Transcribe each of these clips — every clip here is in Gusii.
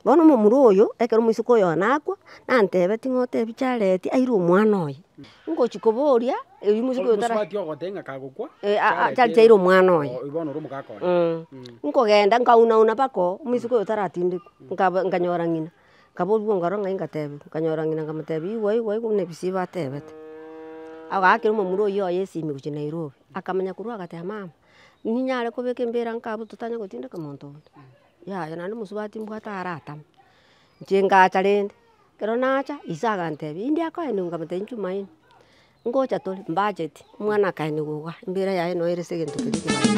Bono omomura oyo, ekero omoiseke oyo one akwa, nantebe ting'ote ebiche areti aire omwana oye. Ngochi koboria, erio omoiseke oyo tara. Eh aa chareti aire omwana oye. Nkogenda nkauna una mpaka oo, omoiseke oyo taratindekwa, nkaba nkanyora ng'ina, nkaboria omokoro ng'ai nkatebiwa, nkanyora ng'ina nkamotebia igwe igwe igwe buna ebisio iba atebete. Agaakera omomura oyio oye esimi gochia Nairobi, akamanya korwa agateba mama, ninyare kobeka embera nkabu totanye gotindeka monto onde. Yaya naende omosubati mbwate aratame, inche ngacha rende, ekero nacha ise agantebia inde akoenigwe nkamotebi inche omaino, ngocha tore mbacheti, omwana akaenigwa iga, embira yaye noyo ere ase egento keria ekebaisa.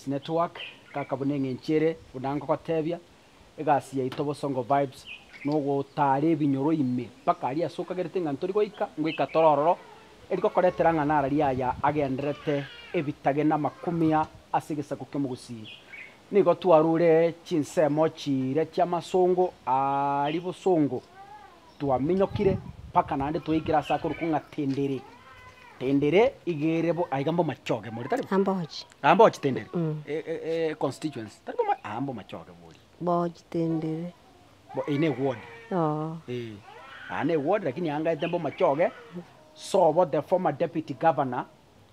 Network kaka buna eng'encho ere buna ngogotebia egasi yaito Bosongo Vibes nogotara ebinyoro ime mpaka aria ase okagerete ng'a ntori goika ngoika toro ororo erigokoretera ng'a nara riaya agenderete ebitage na makumia ase egesaku ki'omogusii nigo twarure chinsemo chire chi'amasongo aria bosongo twaminyokire mpaka naende twaikire ase akorokwo ng'a Tendere. Tendere iga ere bo aiga mbomachoge more, tari bo? Ah, Mbochi. Ah, Mbochi Tendere. Mm. E- e- e- econstituency, tari boma? Ah, mbomachoge boria. Mbochi Tendere. Bo- Eye neward. Oo. Eh, aa neward lakini angaete mbomachoge, sobo the former deputy governor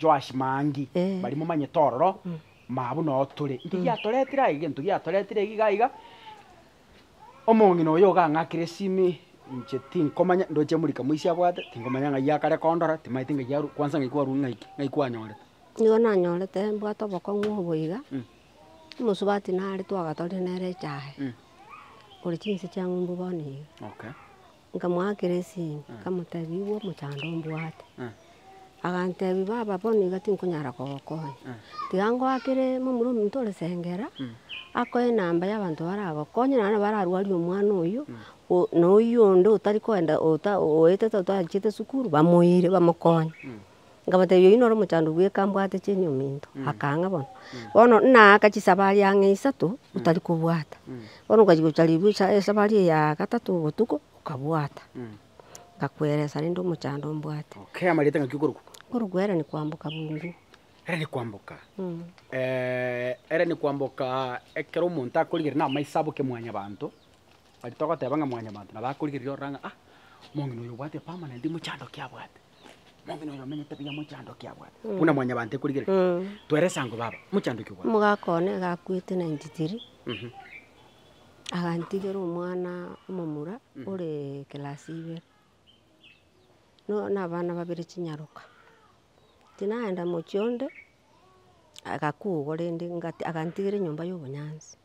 Joash Maangi, Eh. baria momanyete ororo, mabuna oo tore. Inki giatoretire aye? Egento giatoretire iga iga. Omong'ina oyo ogang'akera esimi inche tinkomanya ndoche murika moise abwate, tinkomanya ng'ai akare kondora, timanyeti ng'ai arwa kwansa ng'ai kwarwa ng'ai ki, ng'ai kwanyorete. Nigo nanyorete mbwate obokong'u obo iga, omosubati nare twagatorire nere echae, ore chinse chia ng'umbu bono iga. Okay. Nkamoakera esini, nkamotebia, Igwa omochando mbwate. Agantebia, Baba, bono iga tinkonyara kogokonya. Tiga ngoakere momura ominto ore Sengera, akoe enamba ya abanto baragokonye, naende bararwarie omwana oyio, o- na oyio onde otari koenda, ota- oetete otarachiete sukuru, bamoire, bamokonye. Nkabatebia oyio noro omochandu bweka mbwate chinyomi into. Akaa ng'a bono. Bono naaka chisabari ang'e isato otari kobwata. Bono nkachia gocha ribu esa esabari eye ya gatato botuko nkabwata. Nkakueresa rende omochando mbwate. Okay, amarieta ng'aki okorokwa? Okorokwa ere ni kwamboka bungu. Ere ni kwamboka. ere ni kwamboka ekero omonto akorigereria na amaiso aboke mwanyabanto, aria togoteba ng'a mwanyabanto nabo akorigereria ororo ng'a ah, omong'ina oyo obwate permanent mochando ki abwate. Omong'ina oyo omenyete buya mochandoki abwate, buna mwanyabanto ekorigereria. Twera esango baba, mochandoki obwate. Omogaka one iga akwete 93, agantigera omwana omomura ore class ibere, no- na abana babere chinyaroka. Tinaenda mochie onde, agakugwa rende ngati- agantigera enyomba ya obonyansi.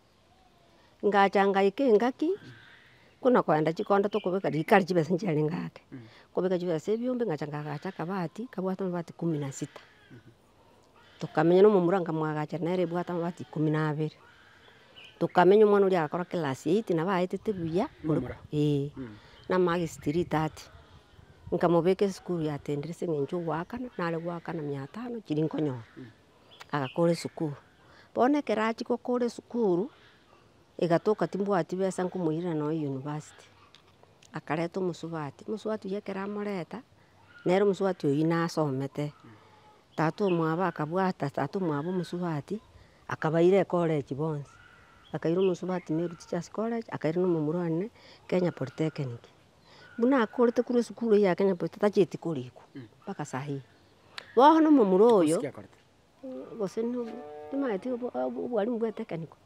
ngacha ngaika engaki, buna kogenda chikondo tokobeka rikari chibesa nchiarenge ake, nkobeka chibesa ebiombe ngacha ngagacha akabati kabwate amabati kumi na sita. Tokamenya na omomura nkamwagacha nere ebwate amabati ikomi na abere. Tokamenya omwana oria agakora class eight nabo aetete buya, eh na marks three thirty. Nkamobeka esukuru ya St. Teresia eng'encho ya ogoakana, nare goakana mia tano chiria nkonyora. agakora esukuru. Bono ekero achia gokora esukuru, egatoka timbwati besa nkomoirera nonya university. Akareta omosubati, omosubati oyio ekero amoreta, nere omosubati oyio nasomete. Tata omwabo akabwata tata omwabo omosubati, akabaira ecollege bonsi. Akaira omosubati Meru Teachers College, akaira na omomura one Kenya Polytechnic. Buna akorete korwa esukuru eye ya Kenya Polytechnic, tacheti korikwa mpaka sahii. Bono omomura oyo, gose timanyeti obwalimu bwa etekeniko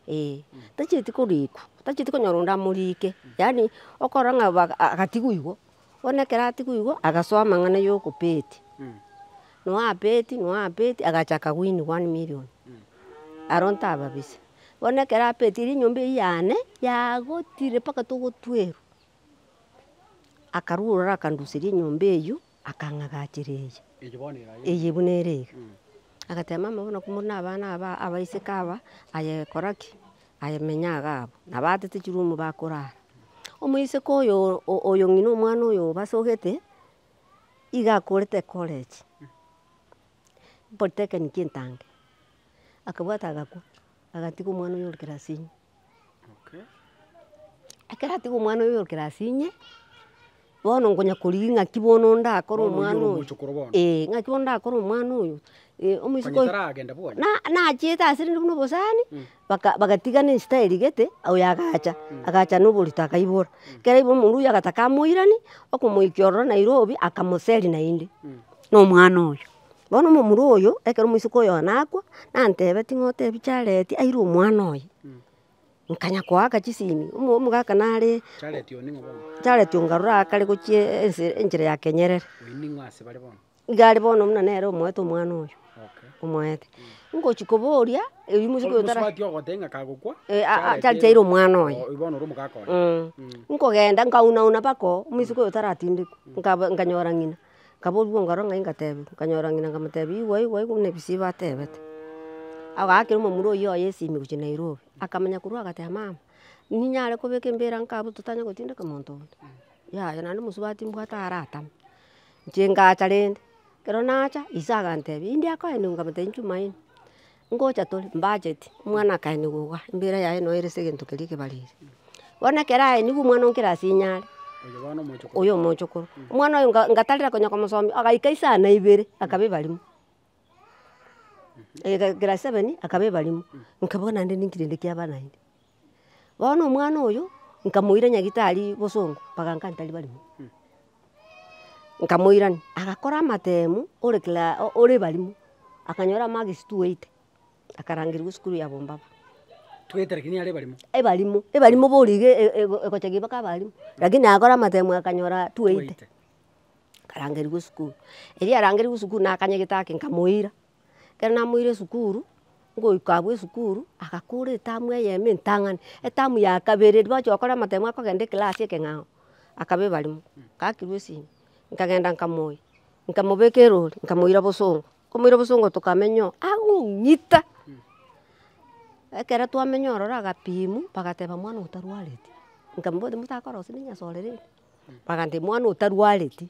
eh, tachieti korikwa, tachieti konyora onde amorike, yaani okorora ng'a obo agatigwa igo, bono ekero atigwa igo, agasoa amang'ana ya okobeti, noe abeti, noe abeti, agacha aka win one million, aro ntababisa. Bono ekero abetire enyomba eywo yane, yagotire mpaka togotwerwa, akarwa ororo akanduseria enyomba eywo, akang'agachera eye. Eye buna ere iga. Agateba mama bono ko muri na abana aba, abaiseke aba, aye kora ki? Aye menya iga abwo. Nabo aatete chiroom bakorara. Omoiseke oyo oyo ng'ina omwana oyo obasogete, igo akorete ecollege, polytechnic entange. Akabwata agakwa, agatiga omwana oyo ore class inye. Ekero atiga omwana oye oyorokire ase inye, bono nkonya korigia ng'aki bono ndakore omwana oyo, eh, ng'aki bono ndakore omwana oyo, omoiseke oyo, na nachiete ase rende buna obosani, baka bagatiga na ensita erigete, oyo agacha, agacha na oborito akaibora, ekero aibora omonto oyio agataka amoirani, okomoikia ororo Nairobi, akamoseri naende, na omwana oyo. Bono omomura oyo, ekero omoiseke oyo nakwa, nantebe, ting'otebi chareti aire omwana oye. Nkanya koaka chisimi, omo- omogaka nare Chareti oyo ning'o bono? chareti oo nkarora akare gochia ense- enchera ya kenyerere. Oyio ning'o ase bare bono? Iga are bono buna nere omoete omwana oyo, Okay. omoete. Ngochi koboria, erio omoiseke oyo Bosubati tara bati ogoteba ng'a kagokwa, Eh, ah, ah, chareti aire omwana oye. oyio bono ore omogaka oye. Nkogenda nkauna una mpaka oo, omoiseke oyo taratindekwa, nkaba- nkanyora ng'ina. Nkaboria ongoro ng'ai ngatebia, nkanyora ng'ina nkamotebia igwe igwe igwe buna ebisiba atebete. Agaakera omomura oyio oye esimi gochia Nairobi, akamenya korwa iga agateba mama, ninyare kobeka embira nka abwo totanye gotindeka omonto onde, yaya naende omosubati mbwate aratame. Inche ngacha rende, ekero nacha ise agantebia, india koa ime? Nkamotebia inchumaine. Ngocha tore mbacheti, omwana akaenigwa iga, embira yaye noyo ere segento keria ekebariri. Bono ekero aenigwe omwana onkere ase inyare, oyo omochokoro, omwana oyo nga ngatarera konya komosomia, agaika isana ibere akaba ebarimo, agaika class seven akaba ebarimo, nkabua naende ninki rende kiaba naende. Bono omwana oyo nkamoira nyagitari bosongo mpaka nkanta ribarimo, nkamoirania agakora amatemu ore kla ore barimo, akanyora marks twaite, akarangerigwa esukuru ya bombaba. Twaite lakini are barimo. Ebarimo, ebarimo boria iga e- e- ego egochegire mpaka abarimo, lakini agakora amatemu akanyora twaite, akarangerigwa esukuru. Erio arangerigwe esukuru nakanyegete ake nkamoira. Ekero namoire esukuru, ngoika abwo esukuru, agakora etamu eyemo entang'ani. Etamu ya kabere riria bagochi gokora amatemo akogenda eclass ekeng'ao, akaba ebarimo, ngakirwa esimi, nkagenda nkamoyia, nkamobeka erori, nkamoira bosongo, nkomoira bosongo tokamenya oo, agong'ita, ekero twamenya ororo agapimu, bagateba mwana oyo tarwareti, nkamoboti motakorosia na enyasore rende, bagantebia mwana oyo tarwareti.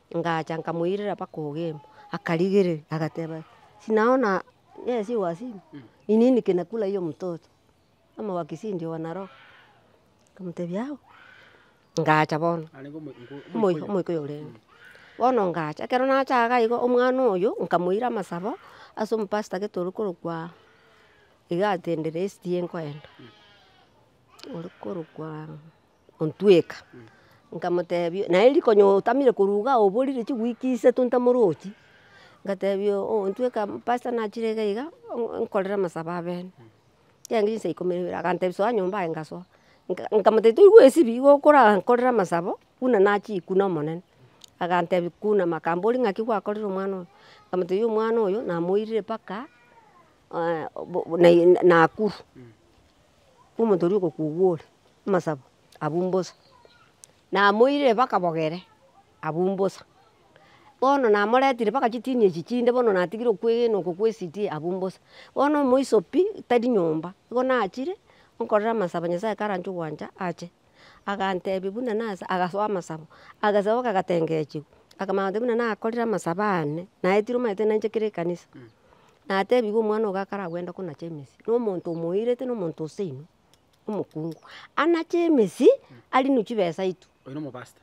Ngacha nkamoirera mpaka ogeema, akarigereria agateba, sinaona yesi wasima, ni nini kinakula hiyo mtoto, ama wakisii ndio wanaloa, nkamotebia yao, ngacha bono, omoika oyo orenge, bono ngacha, ekero nacha iga igo omwana oyo nkamoira amasabo ase omopastor gete oria korokwa iga atendere esiti enkoenda, oria korokwa. ontweka, nkamotebia naye riko onye otamire korwa iga aye oborire chiweek isato ntamorochi, ngatebia oo ntweka pastor nachire iga iga oo nkorere amasabo abene, chiaenge chinsa ikomi na ibere, agantebia soa nyomba aye ngasoa, nka nkamotebia toigwa esibia igo okorankorera amasabo buna nachikwa na omonene, agantebia kunama akambori ng'aki gwakorire omwana oyo, nkamotebia omwana oyo namoirire mpaka naikuru. omonto oria ogokuga ore amasabo abwo mbosa, namoirire mpaka bogere abwo mbosa, bono namoretire mpaka chitini echi chinde bono natigire okwegena oko kwa ECD abwo mbosa, bono omoiso pi tari nyomba, nigo nachire nkorera amasabo Nyasaye karanche ogwancha ache, agantebia buna nase agasoa amasabo, agasaba kagatengechiwa, akamanya goteba buna nakorire amasabo ane, naetire omanyete nainche kere ekanisa. natebigwe omwana ogo akaragwende konacha emesi, na omonto omoirete na omonto oseino, omokungu, anache emesi arinu chibesa itu Oyo nomobasta.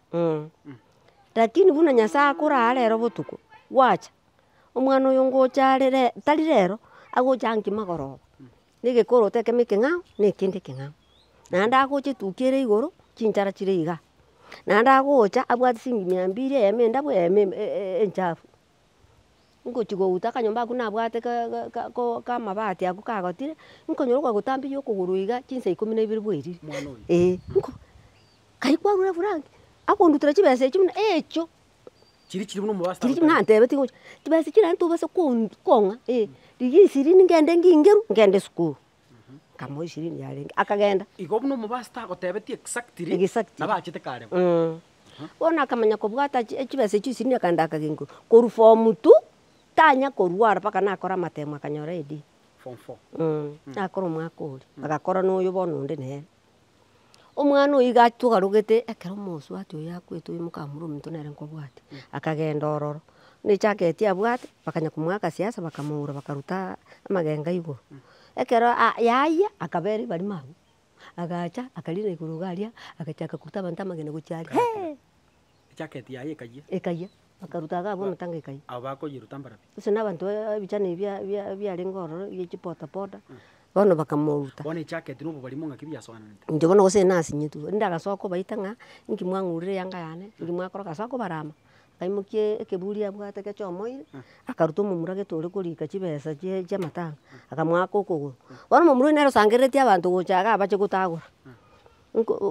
Lakini buna Nyasaye akoraa rero botuko, gwacha, omwana oyo ngocha are re- tari rero, agocha nki magoroba, na egekoroto ekemo ekeng'ao na ekende ekeng'ao. Naende agocha etukia ere igoro, chinchara chire igaa, naende agocha abwate siringi mia mbiri eyemo endabu eyemo enchafu. ngochia gouta akanyomba ako nabwate kamabati ako kagotire, nkonyora ogotamberia okogoro iga chinsa ikomi na ibere bwairire, eh karia kwarure Frank akondutere chibesa echio buna echio, chiria chirabwo nantebe tiga ocha, chibesa echio naende tobasa kong'a, rigia ishirini ngende ngingeru ngende esukuru. Akamoa eshirini yarenge, akagenda. Igo buna omobaso tagotebetie exactly Exactly. nabo achete kare bo. Eeh. Bono akamanya kobwata chi- echibesa echio ishirini akaenda akagengwa. Korwa form two, tanya korwara mpaka nakora amatemo akanyora AD. Form four. Eeh, nakora omwaka oria, agakora na oyo bono onde nere. Omwana oyio iga togarogete ekero omosubati oyio akwete oyio mokamura ominto nere nkobwate, akagenda ororo, buna echageti abwate bakanya komoa agasiasa bakamoura bakaruta amagenga igoro. Ekero aa yayia akabera ebarimo abwo, agacha akarina igoro iga aria agachaka koruta abanto amagena gochia aria hee. Ejaketi yaye ekayia. Ekayia. Bakaruta agabu amatanga ekayia. Abo bakoyiruta mbarabia. Gose na abanto ba ebichani ebi bia bia biarenge ororo bia echi poda poda, bono bakamoruta. Bono ejaketi na obobari mo ng'aki biasoananete. Inche bono gose nasinyitu, erinde agasoka kobaita ng'a, inki mwang'urire eyanga yane, inki mwakora, agasoka kobarama, akaimokia ekeburi abwate gechomoire, akaruta omomura gete ore korika chibesa chie chia amatanga, akamoaka okogoro. Bono omomura oyio nere osangereretie abanto gocha iga abache gotagora.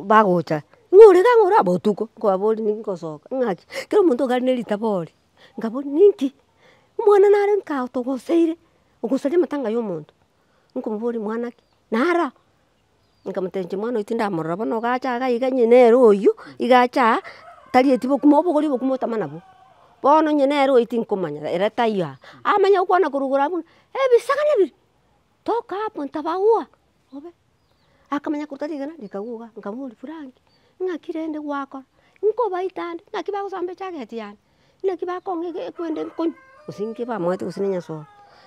bagocha ng'a ore kang'o ore botuko nkobabori ninki ngosoka ng'aki kera omonto gari ne ritabo ore nkabori ninki omwana nare nka togoseire ogosaria amatanga ya omonto nkomobori mwana ki nara nkamotebia inche mwana oyo tindamorora bono ogacha iga iga onye nere oywo iga ache aa tari eti bokima obogori obokima otama nabwo bono onye nere oywo tinkomanya ere taiyo aa amanye gokwana korwa igoro abwo ng'a ebisaga nebibe toka aa monto aba ua. obe. Akamanya korwa tari rigena rikaguga, nkamoboria Frank, ng'aki rende gwakora? Nkobaite ande, ng'aki bagosomba echageti yane? Naki bakong'a ekwende nkonywa? Gose nki bamanyete gose nenyasoe?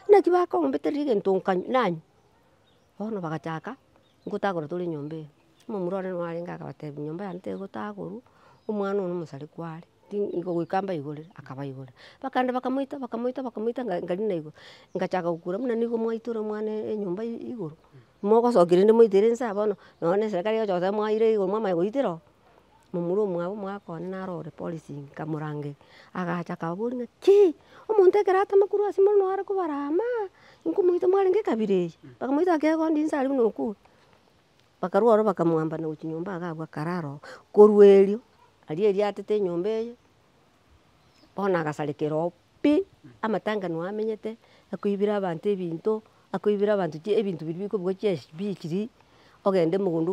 Naki bakombeteria egento nkanywa nanywa? Bono bagachaka ngotagora tore nyomba eye. Omomura one nwarenge akabatebia, nyomba yane tegotagoru, omwana one omosare kware. Nigo goika mbaigorere, akabaigorera. Bakagenda bakamoita, bakamoita, bakamoita nga ngari naigo, ngachaka gokura buna nigo mwaitora omwana enyomba igoro, mogosokia rende moitere nsa bono, nonya na eserekari egocha goteba mwaire igoro mwamanya goitera oo. Momura omwabo omoaka one naro ore polisi nkamorangeria, agacha akababoria ng'a kii! Omonto ekero atama korwa ase more noare kobara amaa, inkomoita mwarenge ekabira eye? Bakamoita akegondi nsa aria buna okure. Bakarwa oro bakamwamba na gochia nyomba iga agwo akare aro, korwa erio aria eriatete enyomba eye, bono agasarekera oo pi, amatanga nigo amenyete, akoibera abanto ebinto, akoibera abanto chie ebinto biria bikobugwa chia esbichiri, ogende mogondo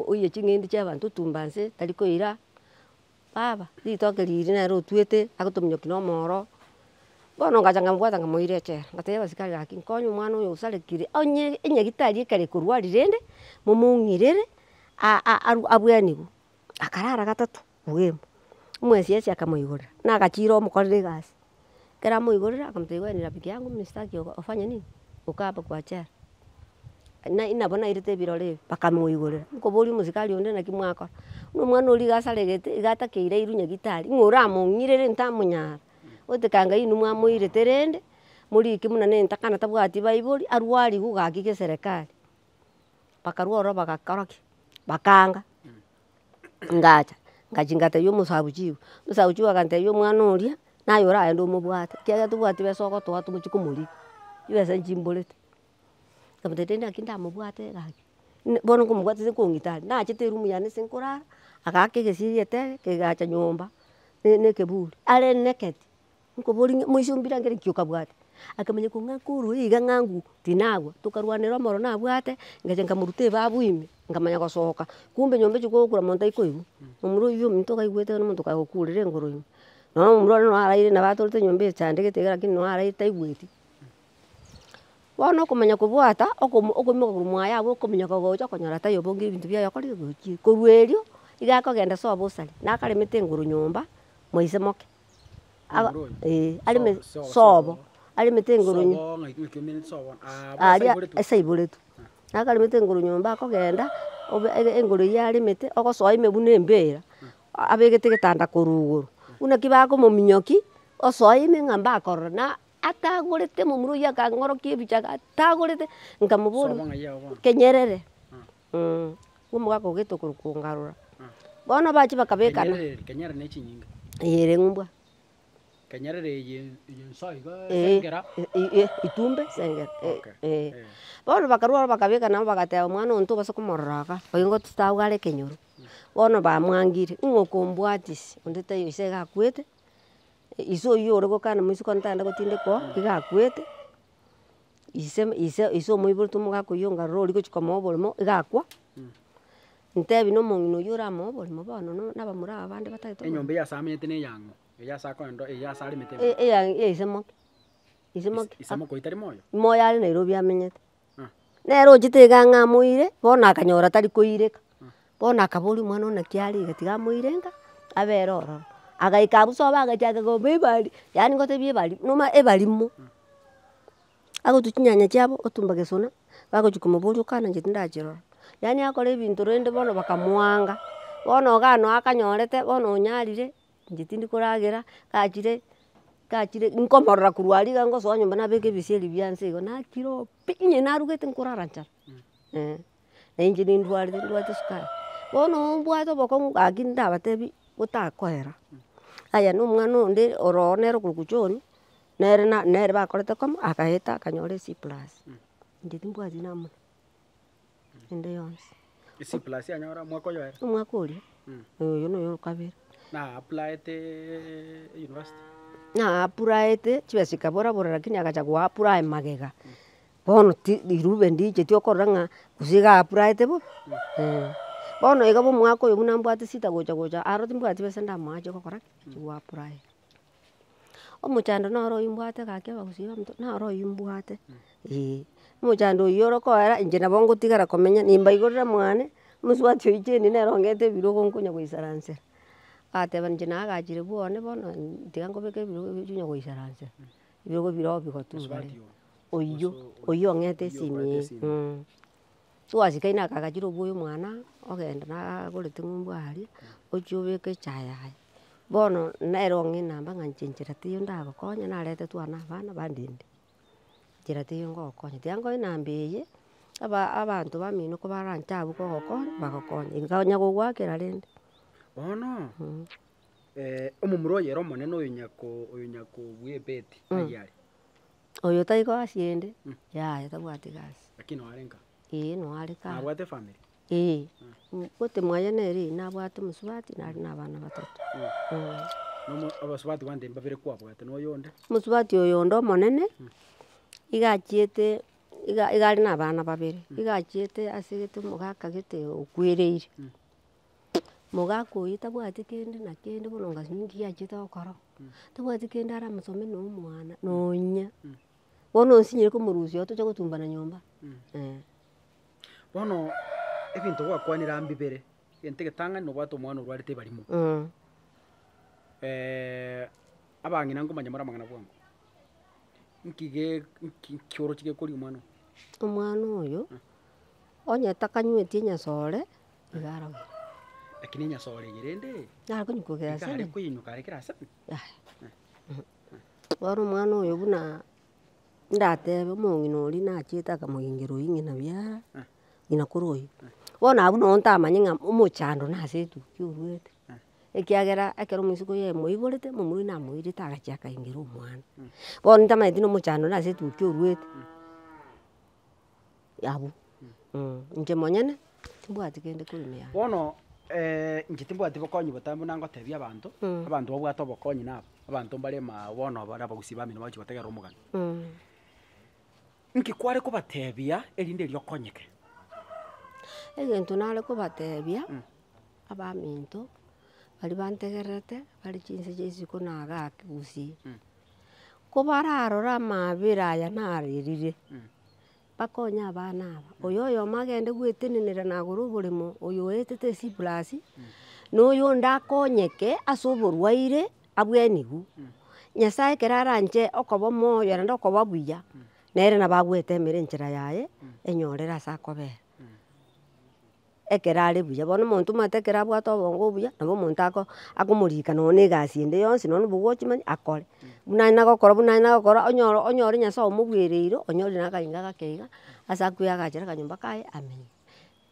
oye ching'ende chia abanto otumbanse tari koira. Baba, ritoke riri nere otuete agotominyokia na omoro, bono ngacha nkamobwata nkamoira echela, ngatebia abasikari gaki nkonye omwana oyo osarekire, onye enyagitari ekero ekorwari rende momoung'irere abwenerwe. Akarara gatato bweemo, omoesiesi akamoigorera, nagachira omokorere egasi. Ekero amoiborire akamotebia wee ni rafiki yangu mimi sitaki ufanye nini ukae hapa kwa chair naye nabo nairete ebirore ebi bakamoigorera, nkoboria omosikari onde naki mwakora, buna omwana oria iga asaregete iga atakeire airwe nyagetari ng'a oramong'irere ntamonyara, gotekaa ngai inwe mwamoirete rende morike buna na etakana tabwati baibori arwari iga ogaki geserekari, bakarwa ororo bagakora ki? Bakanga. ngacha ngachia ngatebia omosabuchibu, omosabuchibu agantebia omwana oria naye oragende omobwate ekiagera tobwati besa ogotoa togochie komorigia, chibesa nchimborete. Nkamotebi naki ndamobwate gaki, bono nkomobwate ase kong'ita are, nachete eroom yane ase nkorara, agaaka egesige etebe, kegacha nyomba ne ne ekeburi, areneketi. Nkoboria ng'a moise ombire angere nki okabwate? Akamanya kong'a nkorwa iga ng'a ng'u tinagwa, tokarwanera omoro nabwate, ngecha nkamoruta ebabu ime, nkamanya gosoka, kumbe nyomba echi kogokura monto tai koigwa, omura oyio ominto okaigwete iga nomonto okagokurire igoro ime, nonya omomura oria nonya araire nabo atorete nyomba echandegete iga lakini nonya araire taigweti. Bono okomanya kobwata okomo okoimoka korwa mwaye agwo okominyoka ogocha okonyora tai obongire ebinto biaye okore ogochie. Korwa erio, iga akogenda soa bosare, nakaremete igoro nyomba moise moke. sobo aremete igoro aria ase aiboretwe. Naka aremete igoro nyomba akogenda obe igoro eria aremete ogosoa ime buna embira abegete egetanda korwa igoro. Buna ki bakomominyoki osoa ime ng'a mbakorora na atagorete momura oyio akang'orokia ebichaku atagorete nkamoboria kenyerere. omogaka ogoeta okorwa kongarora, bono bachia bakabekana. Kenyerere ne chinyinga. Eye ere eng'umbwa. Kenyerere eye enso iga esengera. Eeh itumbe esengera eeh. Bono bakarwa aro bakabeka nabo bagateba omwana oyo togose komorora iga, oyo nigo totago are ekenyoro. Bono bamwangire, ning'o okombwatia ase onde taiyo ise iga akwete, ise oywo ore gokana moisiko ntagende gotindeka oo iga akwete. ise ise ise omoiborete omogakoyia onga rora ori gochia komoa oborimo iga akwa, ntebi na omong'ina oyio oramoe oborimo bono no na abamura aba bande batagete oborimo. Enyomba eyio ase amenyete na eyang'o, eyio ase akorenta eyio ase aremete E- eyang' ya ise moke, ise moke. Ise moke oyo tari moyo? Moyo are Nairobi amenyete. Nere ochete iga ng'a amoire, bono akanyora tari koireka, bono akaboria omwana one naki arenge tiga amoire ng'a abere ororo. Agaika abwo sobo agachaka koba ebari, yaani ngotebie ebari, noma ebarimo. Agotwa chinyanya chiabo, otumba gesona, bagochia komoboria okananche tindachirora. Yaani akore ebinto rende bono bakamwanga, bono iga noo akanyorete, bono onyarire, inche tindi koragera, gachire, gachire, nkomorora korwa aria iga ngosoa nyomba nabeke ebisieri bia inse igo, nakire oo. Pi inye narugete nkorara nchara eh, na inche nindwarete ndwate sukari. Bono ombwate obokong'u gaki ndabatebi botakoera. Aya na omwana onde oro nere okorokwa John, nere na nere bakorete koma, akaeta akanyora ec plus. Inche timbwati namuna. ende yonsi. Esiplas yanyora omwaka oyoere. Omwaka oria, eh oyo noyo okabere. Na applaete university. Na apuraete, chibesa chikabora bora lakini agacha go apply magega. Bono ti rirube ndiicheti okorora ng'a gose iga apuraete bo, eh. Bono iga omwaka oyo buna mbwate shida gocha gocha, aro timbwati chibesa ndamoa chigokoraki, chigoapply. Omochando noro ombwate gaki abagusii bamonto naro oyio mbwate eeh, omochando oyio orokoera inche nabo ngotigara komenya nimbaigorera mwane, mosubati oyi chain nere ongete ebirogo nkonya goisaransera, agateba inche nagachire bwa one bono tiga nkobeke ebirogo ebi onya goisaransera, ebirogo bire oo bigotuga, oyio oyio ongete esimi eeh. Twasikaine aka agachire obwoyo omwana, ogenda nagorete eng'umbu aria, ochia obeke echaye yaye. Bono nere ong'e namba ng'a inche nchera teiyo ndagokonya, naretetwe aa na abana bandende, nchera teiyo ngogokonya. Tiga nkonya namba eye, aba abanto bamino kobaranche abwo kogokonya, bagokonye. Inga onya gogoakera rende. Bono Mm. omomura oyere omonene oyo nyakoo oyo nyakobua ebeti, taiyo are. Oyo tai koasi ende, yaya tabwati gasi. Lakini noare nka. Eeh noare ka. Nabwate efamiri. Eeh, obote mwaye nere nabwate omosubati nare na abana batato. Nomo abasubati bande mbabere kwabwate na oyo onde? Omosubati oyo onde omonene, iga achiete iga iga are na abana babere, iga achiete ase egete omogaka gete okwereire. Omogaka oyio tabwati kende na kende bono ongasu ninki giachete gokora, tabwati kende ara mosome na omwana nonya, bono osinyire komorusia igo tocha gotumbana nyomba eh. Bono ebinto gwakwanire aa mbibere, egento egetang'ani nobwate omwana orwarete ebarimo abang'ina nkomanya more amang'ana bwango, nki ge nki nki oroche gekoria omwana oyo? Omwana oyo, onye takanyweti enyasore. iga arogire. Lakini enyase orege rende. Nare konyukoka ase. Ekare koinyuka arekire ase. Bono omwana oyo buna ndatebe omong'ina oria nachete akamogengera oying'ina buya ng'ina kore oyi. Bono abwo nabo ntamanye ng'a omochando nase etukia oruete. Ekiagera ekero omosiko oye amoiborete, momura oye namoirete agachia akaingera omwana. Bono ntamanyeti nomochando nase etukia oruete. abwo, inche monyene timbwati kende korwa ime yane. Bono inche timbwati bokonyi botambe buna ngotebia abanto, abanto babwate obokonyi nabo, abanto mbare maa bono bare abagusii bamino bagochi gotegerera omogani. Nki kware kobatebia erinde erio okonyeke? Egento nare kobatebia, abaminto baria bantegererete bare chinse chia isiko na igaa gusii, kobararore amabera aya narerire, bakonye abana aba. Oyo oyomo agende gwetenenera na agore oboremo, oyo oetete esiplasi, na oyonde akonyeke ase oborwaire abwenigwe. Nyasaye ekero aranche okoba omoyo naende okoba buya, nere nabo agwetemera enchera yaye enyorere ase akobera. ekero are buya. Bono omonto omanyete ekero abwate obongo obuya, nabo omonto ako akomorika nonya na egasi ende yonsi nonya na obogochimani akore. Buna aye nagokora buna aye nagokora onyore onyore nyasae omogwereire onyore na akainga gake iga ase akwegachere akanyomba kaye amenye.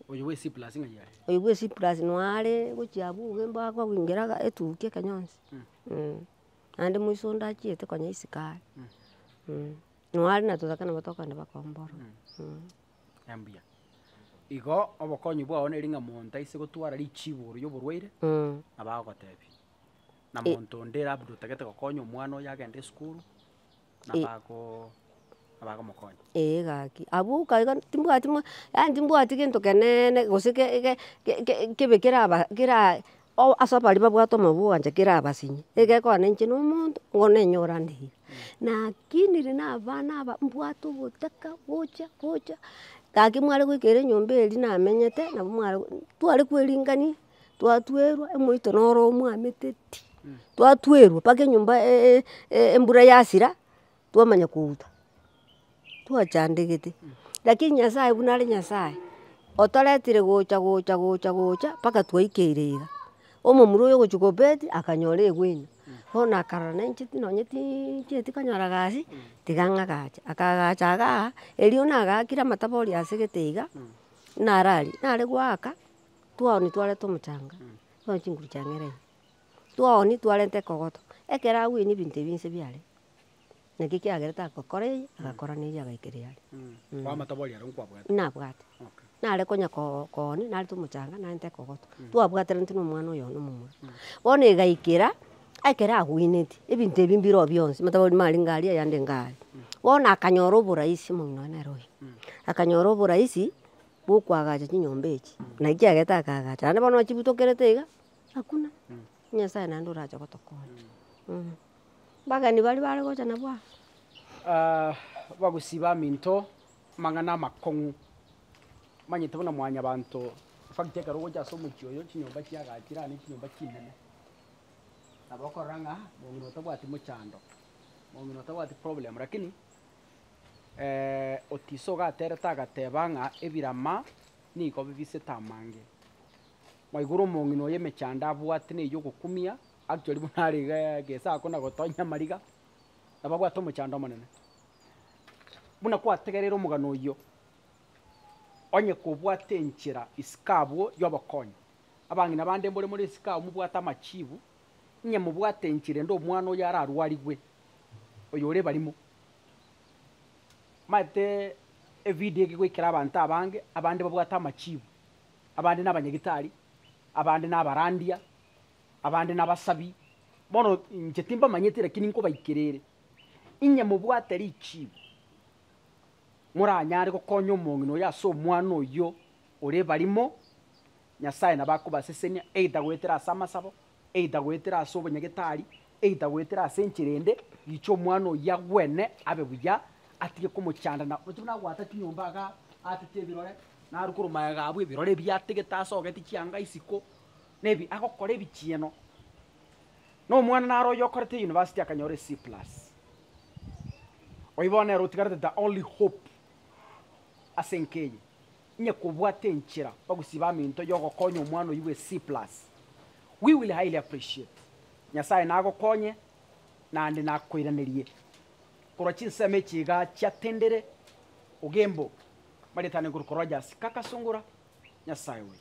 Oyo bwa C+ ng'ai are? Oyo bwa C+ noyare gochia abwo obuya mboa kogengera aga etukia eke nyonsi eh. Naende moiso onde achiete konya isiko are eh. Nonya are na totaka nabo tokogenda bakombora eh. Mbuya. Igo obokonyi bwao neri ng'a monto aise gotwara richiibuuru y'oborwaire, Mm. na bagotebia, na E- monto onde labda otagete gokonya omwana oyo agende esukuru, na E- bago na bagomokonya. Ee gaki. Abwo oka iga timbwati ma yaani timbwati gento keneene gose ke- ke- ke- ke- kebe keraba kera. Ase abaria babwate omoyo bw'ogoancha kera abasinye, egekogana inche na omonto nigo nenyore ande ira. Lakini riria na abana aba mbwate ogotaka gocha gocha, gaki mware goikera enyomba eria namenyete nabo mware go, tware kweringania, twatwerwa omoito noro omwameteti, twatwerwa mpaka enyomba embura yasira. twamanya kouta twachandegete. Lakini nyasaye buna are nyasaye otoretire gocha gocha gocha gocha mpaka twaikeire iga. Omomura oyo ogochia kobeti akanyora egueno bono akarora nainche nonye tincheti konyora gasi tiga ngagache. Akagacha igaa erio nagakire amatabo oria asegete iga narari nare goaka twaoonia twareta omochanga twaoonia chinguru chiangere iga twaoonia twarenta ekogoto ekero agwenia ebinto ebi inse biarenge. Naki ekiagera tagokora eye, agakora na eria agaikera earia. Kwamata boria aro nkwabwate? Nabwate. Okay. Nare konya ko- koonia, narete omochanga, narente ekogoto. Twabwateraneti na omwana oyo one omomura. Bono egaikera, ekero agoineti, ebinto ebi mbire oo bionsi, omanyete abamura are inga aria, ayande inga aria. Bono akanyora oborahisi, omong'ina one nere oyo, akanyora oborahisi bwa okoagacha chinyomba echi, na ekiagera takaagacha. Naende bono chibutokerete iga, hakuna. Nyasaye naende orache gotokonya. Abageni baria bare gocha nabwo aa. Bagosii baminto amang'ana amakong'u, omanyete buna mwanyabanto, efacto ekero ogocha ase omochie oyo chinyomba chiagachi rane chinyomba chinene, nabo okorora ng'a omong'ina otabwati mochando, omong'ina otabwati problem lakini otiso ogaterete agateba ng'a ebirama nigo bibisete amange. Mwaigure omong'ina oyo emechando abwate neyio ogokumia, Actually buna are iga gesaku na gotonya amariga, nababwate omochando omonene. Buna kwategereire omogano oyio, onye kobwate enchera isiko abwo y'obokonyi, abang'ina bande mbore more isiko agwo mobwate amachibu, inye mobwate enchera ende omwana oyo ararwarigwe, oyo ore ebarimo. Maete evidio eke goikera abanto abange, abande babwate amachibu, abande na abanyagitari, abande na abarandia, Abande nabasabi, bono inche timbamanyeti lakini nkobaikera ere, inye mobwate richiibo moranyare gokonya omong'ina oyo ase omwana oyio ore ebarimo, Nyasae nabo akobasesenia, either goetera ase amasabo, either goetera ase obonyagetari, either goetera ase enchera ende, riiche omwana oyio agwene abe buya, atige komochanda na ochi buna agwata chinyomba igaa atete ebirore, naru korwa maega abwo ebirore ebi ategete asogeti chianga isiko. Nebi agokora ebichieno, na omwana naro oyio okorete euniversity akanyora e C plus. Oyio bono nere otigarete the only hope ase enka eye, inye kobwate enchera bagosiba amento yogokonya omwana oyio bwe C plus. We will highly appreciate. Nyasaye nagokonye naende nakoiranerie korwa chinsemo echi iga chiatendire Ogembo. Marietane Nkoruko Rogers, Kakasungura, Nyasaye oyo.